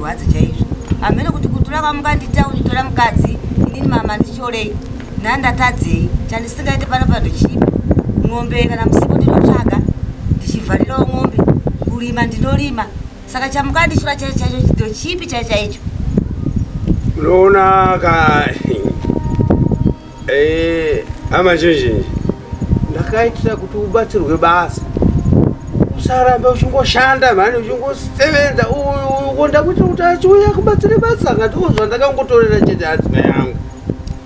Rwadzi chaizvo. Amene kuti kutura kwamuka nditauni tora mukadzi inini mama ndichorei ndandatadzei chandisingaite pano pano chipi ng'ombe kana musipo ndinotsvaga ndichivharirawo ng'ombe kurima ndinorima saka chamuka ndichura chaicho chaicho chido chipi chaicho chaicho munoona ka Eh, hama zhinji ndakaitira kuti ubatsirwe basa usaramba uchingoshanda mhani uchingosevenza ukonda kuita kuti achiuya kubatsire basa ngati uzva ndakangotorera chete hadzima yangu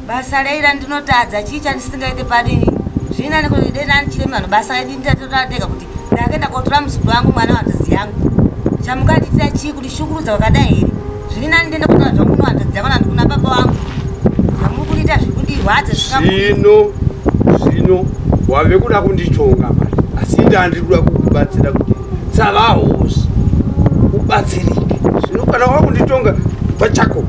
basa raira ndinotadza chii chandisingaite padini zvina nekuti dena ndichiremano basa raidi ndatoratega kuti ndakaenda kotora muzukuru wangu mwana wanzvadzi yangu chamuka ndiitira chii kuti shukurudza wakadai here zviri nani ndiende kunoa zvangu kuno wanzvadzi yako nandi kuna baba wangu zvamuri kundiita zviri kundirwadza zvino zvino wave kuda kunditonga mari asi ndandiri kuda kukubatsira kuti savahosi ubatsirike zvino kana wakunditonga pachako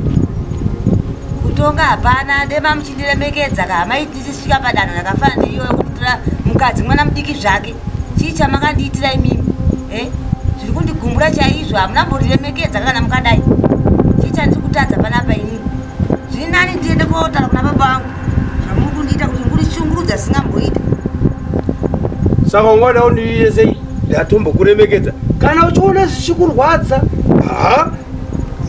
kutonga hapana dema muchindiremekedza kahamaiti ndichisvika padanho rakafana neiyo yekutora mukadzi mwana mudiki zvake chii chamakandiitira imimi e eh? zviri kundigumbura chaizvo hamuna mboriremekedza kana mukadai chii chandiri kutadza panapa inini zviri nani ndiende kotaura kuna baba vangu zvamuri kundiita kuti murishungurudza zvisingamboita saka ungoda undiiresei ndatombokuremekedza kana uchiona zvichikurwadza haa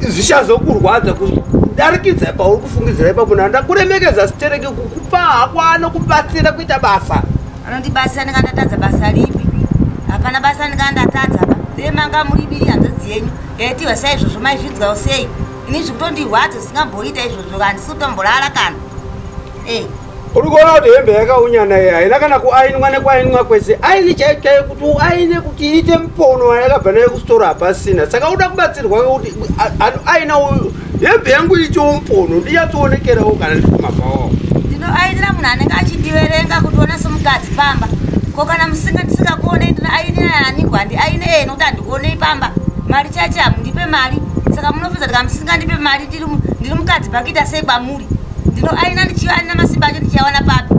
zvichazokurwadza kudarikidza pauri kufungidzira ipapo na ndakuremekedza sitereke kukupa hako anokubatsira kuita basa anondibatsira ndinga ndatadza basa ripi hapana basa ndinga ndatadza pa dee manga muri biri hanzodzi yenyu yaitiwa sa izvozvo maizvidzwawo sei ini zvikutondirwadza zvisingamboita izvozvo handisi kutomborara kana e uri kuona kuti hembe yakaunyana iyi haina kana kuainwa nekuainwa kwese aini chaiyo chaiyo kuti uaine kuti iite mupono yakabva nayo kusitora hapasina saka uda kubatsirwa kuti aina uyu hembe yangu iitiwo mupono ndiyatsoonekerawo kana ndiri kumabhawawo ndinoainira munhu anenge achindiverenga kuti ona somukadzi pamba ko kana musinga ndisingakuonei ndinoainira aniko handi aine ee nokuti handikuonei pamba mari chache hamundipe mari saka munopedza ndikamusingandipe mari ndiri mukadzi bhakita sei kwamuri ndino aina ndichiva aina masimba acho ndichiawana papi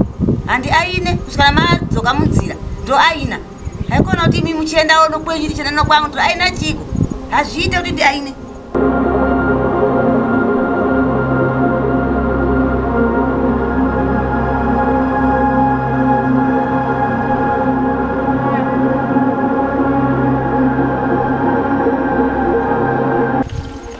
handi aine kusvikana madzoka munzira ndo aina haikona kuti imi muchiendawo nokwenyu ndichienda nokwangu ndo aina chiko hazviite kuti ndi aine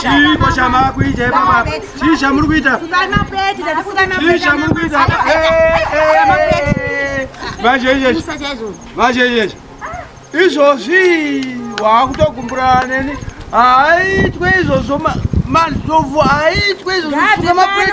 chiiko chamakuita ipapa chii chamuri kuita chii chamuri kuita vazheizvezvi vazheizvezvi izvozvi waakutogumbura neni haaitwe izvozvo mandovu haaitwe izvozvo sunga mapureti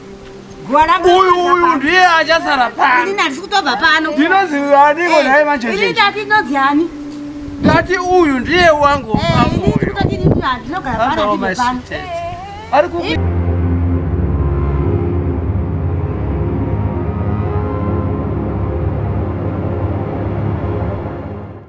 uyu uyu ndiye achasara panotova pano ndinozi aniko eh, naye manjeeati ndodzi ani ndati uyu ndiye wangu eh,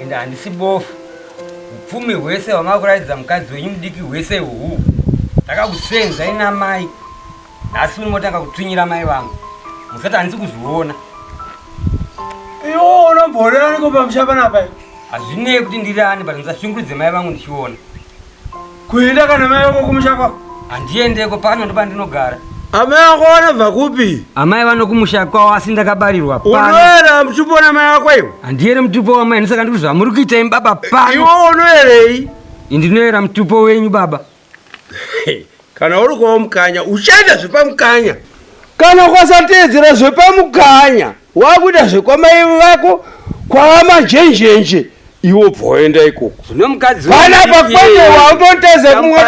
Ende handisi bofu. Upfumi hwese hwamakuratidza mukadzi wenyu mudiki hwese uhu. Ndakakusenzai namai. Nhasi uno motanga kutswinyira mai vangu. Musati handisi kuzviona. Iwo unomborera niko pamusha panapa. Hazvinei kuti ndiri ani but musashungurudze mai vangu ndichiona. Kuenda kana mai vako kumusha kwako? Handiendeko pano ndipo pandinogara. Amai vako vanobva kupi? Amai vanokumusha kwavo asi ndakabarirwa pano. Unoera mutupo wamai vako iwe? Handiere mutupo wamai ndisaka ndiri zvamuri kuita imi baba pano. Iwe unoerei? Ndinoera mutupo wenyu baba. Kana uri kwa mukanya uchaita zvepamukanya. Kana ukasateedzera zvepamukanya wakuita zvekwamai vako kwamajenjenje iwo bvoenda ikoko. Zvino mukadzi Kana pakwete wautoteza kumwe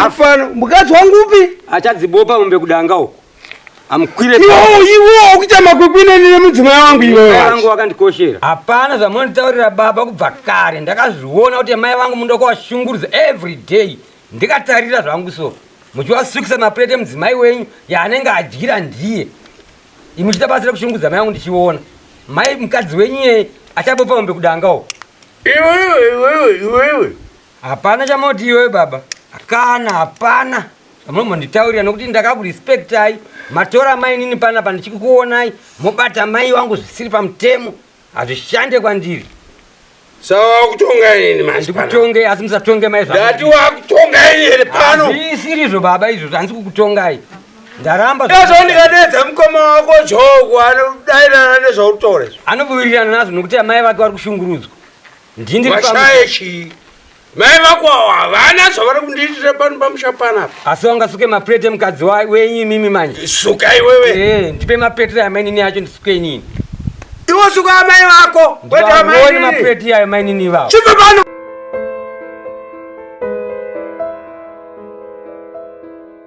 mufana. Mukadzi wangu upi? Achadzibopa mombe kudanga uko. Amkwire. Iwo iwo ukuita makwikwine nene mudzimai wangu iwe. Mai wangu wakandikoshera. Hapana zvamonitaurira baba kubva kare ndakazviona kuti mai vangu mundokuwashungurudza every day. ndikatarira zvangu so muchiwasukisa maplate emudzimai wenyu yaanenge adyira ndiye imuchita basa rekushungudza mai yangu ndichiona mai mukadzi wenyu yeye achabopa mombe kudangawo iwewe iwewe iwewe hapana chamoti iwewe baba kana hapana zvamunombonditaurira nokuti ndakakurespectai matora mainini panapa ndichikukuonai mobata mai wangu zvisiri pamutemo Hazvishande kwandiri. Saka wakutonga inini manje. Ndikutonge asi musatonge mai zvangu. Ndati wakutonga inini here pano? Hazvisiri izvo baba izvo zvanzi kukutongai. Ndaramba. Ndazvo ndikadedza mukoma wako Jogo anodairana nezvautore. Anobuwirirana nazvo nokuti amai vake vari kushungurudzwa. Ndini ndiri pamusha. Washaye chii? Mai vako awo havana zvavari kundiitira pano pamusha panapa. Asi wangasuke maplate emukadzi wenyu imimi manje. Suka iwewe. Eh, ndipe maplate amainini acho ndisuke inini. Iwo suka amai vako. Kwete amainini. Ndione maplate ya amainini vavo. Chibva pano.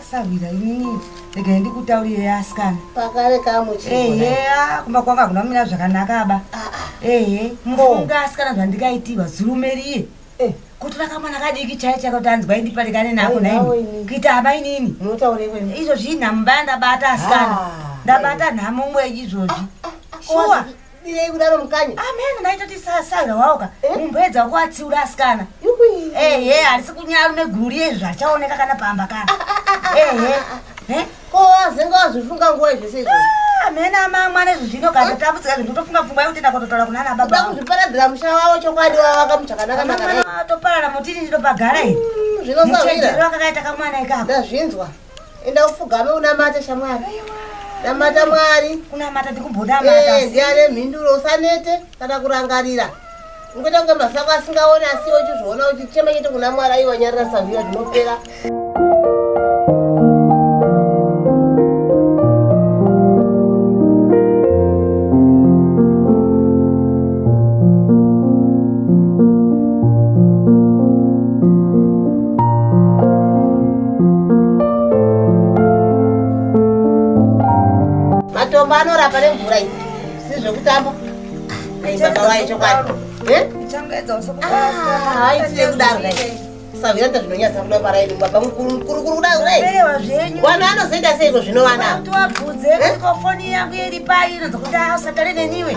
asarwira inini regai ndikutaurire yasikana pakare kamucheeya kumba kwanga kuna mina zvakanaka ba ah, ah. ehe mufunga asikana zvandikaitirwa zurumeriye eh. kutora kamwana kadiki chaiye chakati anzwa indipatikane nako naini kuita hama inini izvo zvii nhamu baya ndabata asikana ah, ndabata nhamu umwe izvozvi shuwa Birei kudaro mukanya. Amen naito tisasanga waoka. Eh? Mumbedza wako atsiura asikana. Yukui. Eh eh arisi kunyara ne guru riye zvachaoneka kana pamba kana. Ah, ah, ah, eh eh. Eh? Ko azenga azvifunga nguwa zvese izvo. Amen ama mwana zvino kana eh? tabudzika zvinhu tofunga pfungwa yekuti ndakototora kuna ana baba. Ndaku zviparadzira musha wawo chokwadi wawo akamuchakanaka nakanaka. Toparara mutini ndopagara iyi. Mm, Zvino sawira. Muchedero akakaita kamwana ikako. Ndazvinzwa. enda ufugame unamate shamwari namata mwari kunamata ndikumbonamata eh, ndiane mhinduro usanete kana kurangarira ungoita kunge masako asingaoni asi uchizviona uchichema chete kuna mwari aiwanyarira saviya zvinopera matombo anorapa nemvura iyi sizvekutamba baba vaye chokwadi aitire kudaro savira ndazvinonyatsa kuda parai baba mukuru mukuru kuri kuda kurai wana anozoita seiko zvino vana wabvudze foni yangu iri pai inonzi kuti asatare neniwe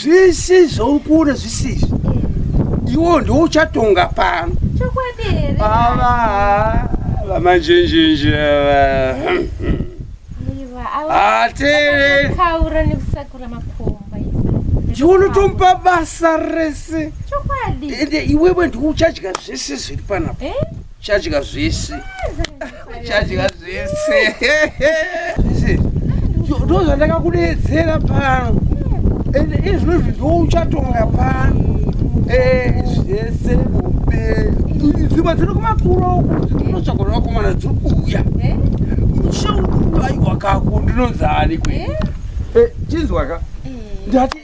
zvese zvauri kuona zvisizvi iwo ndouchatonga pano ava vamanjenjenje ndiunotomupa basa rese ende iwewe ndiuchadya zvese zviri panapo eh? uchadya zvese chadya zvese ndo zvandakakudetsera pano ende izvozvi ndo uchatonga pano zvese mupenyu dzimba dziri kumakuro unotsvaga ravakomana dziri kuuya shauaiwakako ndinonzani kwe chinzwaka ndati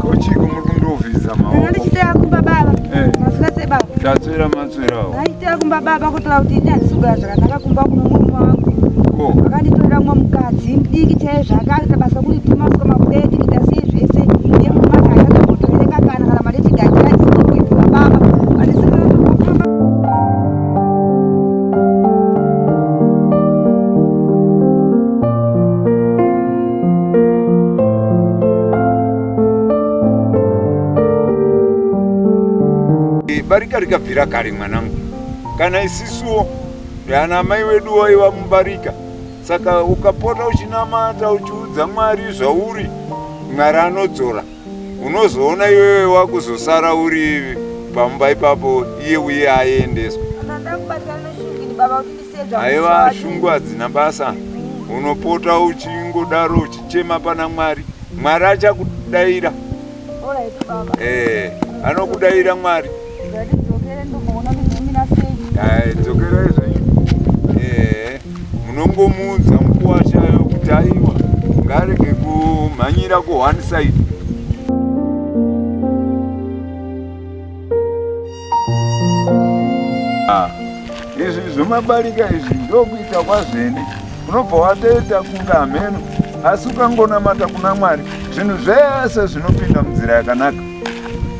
Kochiko muri kundovhiza maoko. Ndichitaya kumba baba. Eh. Masura se baba. Tatswera matswera. Ndichitaya kumba baba kutaura kuti ini handisugara zvakanaka kumba kuno mumwe wangu. Ko. Vakanditorera mumwe mukadzi mudiki chaiye zvakaita basa kuti tuma swa mabuda etikita sei zvese. Iye mumwe wacho haana kutoereka kana kana mari chigaji aisiko kuita baba. Handisugara kumba. barika rikabvira kare mwanangu kana isisuwo ana amai wedu waiva mubarika saka ukapota uchinamata uchiudza mwari zvauri mwari anodzora unozoona iwewe wakuzosara uri pamba ipapo iye uye aendeswa aiva shungu hadzina basa unopota uchingodaro uchichema pana mwari mwari achakudaira eh, anokudaira mwari eh, dzokera izvenyu eh, munongomuudza mukuwashayo kuti aiwa ngarege kumhanyira ku one side Ah, izvi zvomabarika izvi ndokuita kwazvene unobva watoita kunga hameno asi ukangonamata kuna mwari zvinhu zvese zvinopinda munzira yakanaka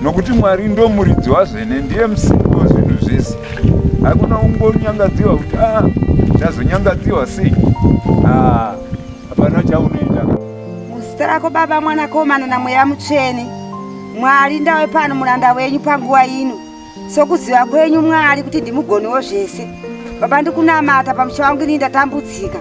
nokuti mwari ndomuridzi wazvene ndiye musiki wezvinhu zvese hakuna ungonyangadziwa kuti a ah, chazonyangadziwa sei ah, hapana chaunoita muzita rako baba mwanakomana namweya mutsvene Mwari, ndave pano muranda wenyu panguva ino, sokuziva kwenyu Mwari kuti ndimugoni wozvese. Baba, ndikunamata pamusha wangu ini ndatambudzika,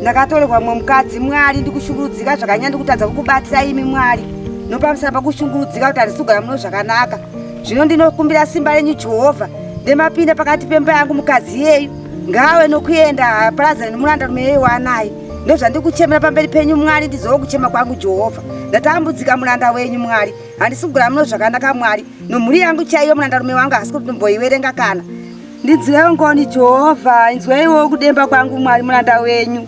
ndakatorerwa mumwe mukadzi Mwari, ndikushungurudzika zvakanyanya, ndikutadza kukubatira imi Mwari, nopamusana pakushungurudzika kuti handisi kugara muno zvakanaka. Zvino ndinokumbira simba renyu Jehovha, ndemapinda pakati pemba yangu mukadzi yeyu, ngaawe nokuenda, haaparadzane nomuranda rume yeyu waanaye. ndozvandiri kuchemera pamberi penyu mwari ndizova kuchema kwangu jehovha ndatambudzika muranda wenyu mwari handisi kugara muno zvakanaka mwari nomhuri yangu chaiyo murandarume wangu hasi kuti ndomboiverenga kana ndinzweiwo ngoni jehovha inzweiwo kudemba kwangu mwari muranda wenyu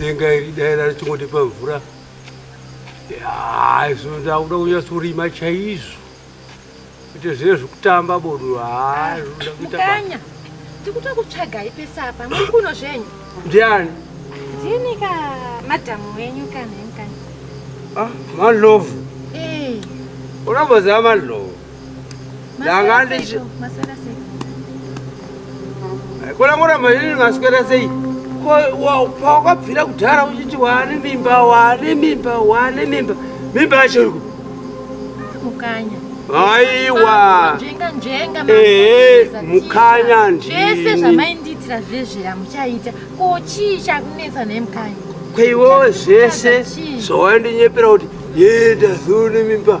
denga iri dai rari chingoti pamvura zvoda kuda kunyasorima chaizvo kuti zviye zvikutamba bodo haa zvinoda kuita basa. Mukanya, tikuta kutsvagai pese apa, muri kuno zvenyu. Ndiani? Ndini ka madhamu wenyu kana mukanya. Ah, Manlovu. Eh, Unomboziva Manlovu? Ndanga maswera ndichi sei? Maswera sei? Kona kuramba ini maswera sei? Pawakabvira kudhara uchiti waane mimba, waane mimba, waane mimba. Mimba yacho iriko. Mukanya. Aiwa. Njenga njenga. Eh, mukanya ndi. Zvese zvamaindiitira zvezve yamuchaita. Ko chii chakunetsa nemukanya? Kwaiwo zvese zvawaindinyepera kuti yenda zuni mimba.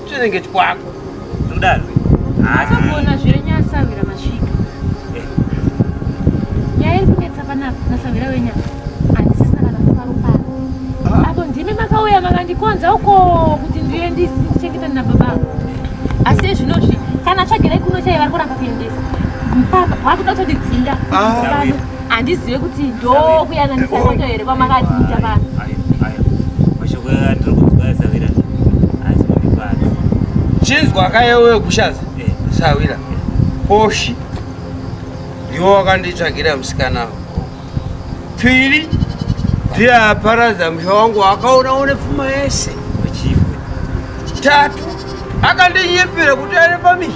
Chinenge chikwako. Ndodaro. Asi kuona zvenya asavira masvika. Eh. Nyaya iri kunetsa panapa nasavira wenya. Andisisina kana kufaro pano. Ah. Apo ndimi makauya makandikonza uko kuti ndiye ndichengeta na baba. Asi zvinozvi kana tsvagirai kuno chaiva kuramba kuendesa. Mpaka wakuda kutodzinga. Ah. handizive kuti ndokuyananisa moto here kwamakatiita vanhu mashoko atiri kunzwa asavira asi mundipati chinzwa kayewe kushaza eh. sawira poshi ndiwo wakanditsvagira musikana pfiri ndiye aparadza musha wangu wakaona une pfuma yese tatu akandinyepera kuti ari pamii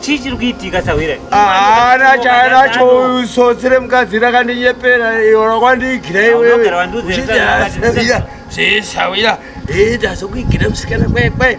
chii chiri kuitika sahwira haana chaanacho uyu sotsi remukadzi rakandinyepera iora kwandiigira iwewe zvisahwira ita sokuigira musikana kwekwe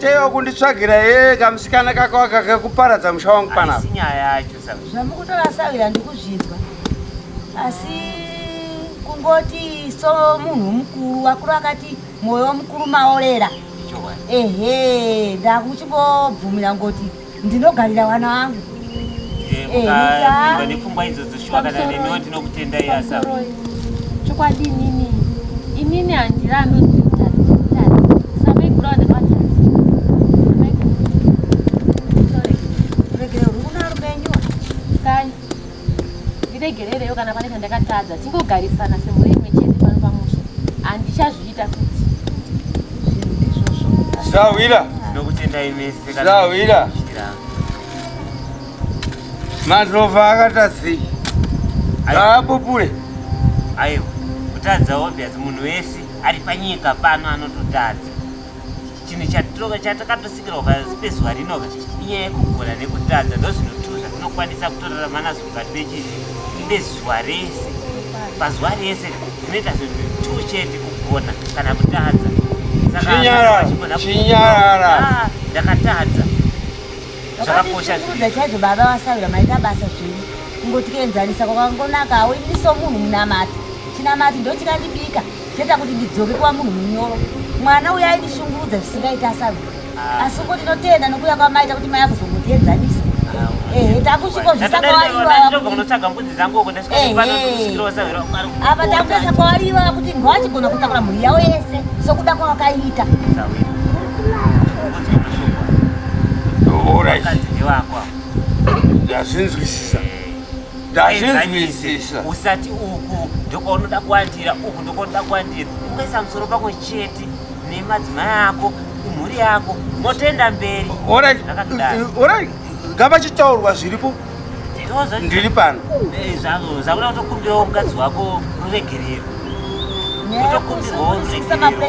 Teyo kunditsvagira ye kamusikana kako aka kekuparadza musha wangu panapa. Sinyaya yacho saka. Zvamukutaura sawi andikuzvinzwa. Asi kungoti so munhu mukuru wakuru akati moyo mukuru maorera. Ehe, ndakuchingobvumira ngoti Ndinogarira vana vangu. Eh, eh, mukapindwa nepfungwa idzodzo shuwa kana nemiwo tinokutendai asa. Chokwadi inini. Inini handirambi ndiregererewo kana pane chandakatadza tingogarisana semhuri imwe chete pano pamusha handichazviita futi zvinhu ndizvozvo zvawira ndinokutendai mese zvawira madhova akaita sei ngaapupure aiwa kutadza obvious munhu wese ari panyika pano anototadza chinhu chatakatosikirwa pasi pezuva rino ka inyaya yekugona nekutadza ndozvinhu tu zvatinokwanisa kutorarama nazvo mukati mechii nezuva rese pazuva rese zvinoita zvinhu tu chete kugona kana kutadza sakaachinyarara ah, ndakatadza zvakakosha chaizvo baba vasaura maita basa zvenyu kungotienzanisa kwakangonaka awindiso munhu munamati chinamati ndochikandibika Zvinoita kuti ndidzoke kuva munhu munyoro. Mwana uyo aindishungurudza zvisingaiti asavi. Ah. Asi ngo ndinotenda nokuuya kwamaita kuti mai akuzomuteedzanisa. Ah, Ehe, takusviko zvisakwaarivakunotsvaga mbudzi dzangu uko ndasvikaapa takutoisa kwaariva kuti ngowachigona kutakura mhuri yavo yese sokuda kwawakaita ndazvinzwisisa ndazvinzwisisa usati uku ndokwaonoda kuwandira uku ndokwaonoda kuwandira ungaisa musoro pako chete nemadzimai ako imhuri yako motoenda mberi orai ngavachitaurwa zviripo ndiri pano eh, zvakuda kutokumbirawo mukadzi wako ruregerero utokumbirwawo ruregerero